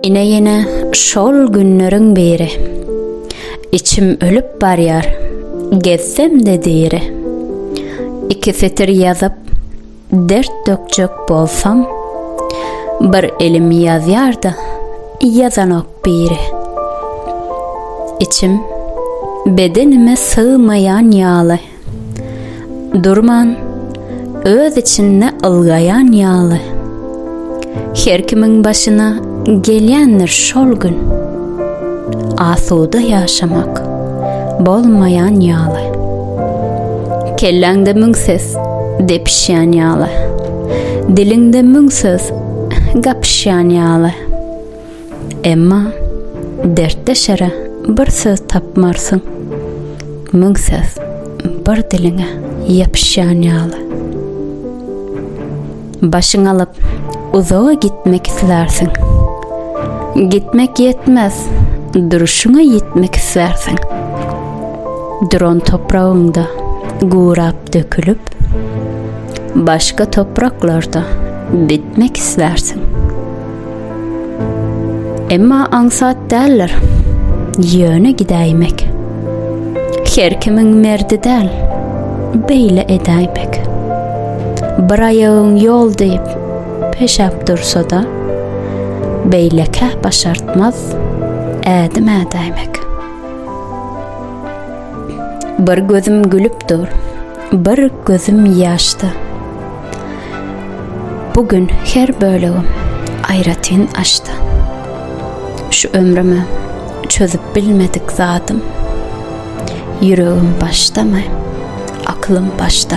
Ine ýene şol günleriň biri Içim ölüp barýar, gezsem-de diri Iki setir ýazyp, Dert dökjek bolsam Bir elim ýazýar-da Ýazanok biri Içim bedenime sygmaýan ýaly Durman öz içinde ylgaýan ýaly Her kimiň başyna gelýändir şol gün. Asuda ýaşamak bolmaýan ýaly. Kelläňde müň ses depişýän ýaly. Diliňde müň söz gapyşýan ýaly. Emma dertdeşere bir söz tapmarsyň. Müň söz bir diliňe ýapyşýan ýaly. Başyňy alyp, uzaga gitmek islärsiň. Gitmek ýetmez, duruşyňa ýetmek islärsiň. Duran topragyňda gurap dökülip, başga topraklarda bitmek islärsiň. Emma aňsat däldir. Ýöne gidäýmek. Her kimiň merdi däl. Beýle edäýmek. Bir aýagyň ýol diýip, peşäp dursa-da, beýlekä başartmaz ädim ädäýmek. Bir gözüm gülüp dur. Bir gözüm ýaşda. Bu gün her bölegim aýratyn açdy. Şu ömrüme çözüp bilmedik zadym. Ýüregim başdamy? Aklym başda.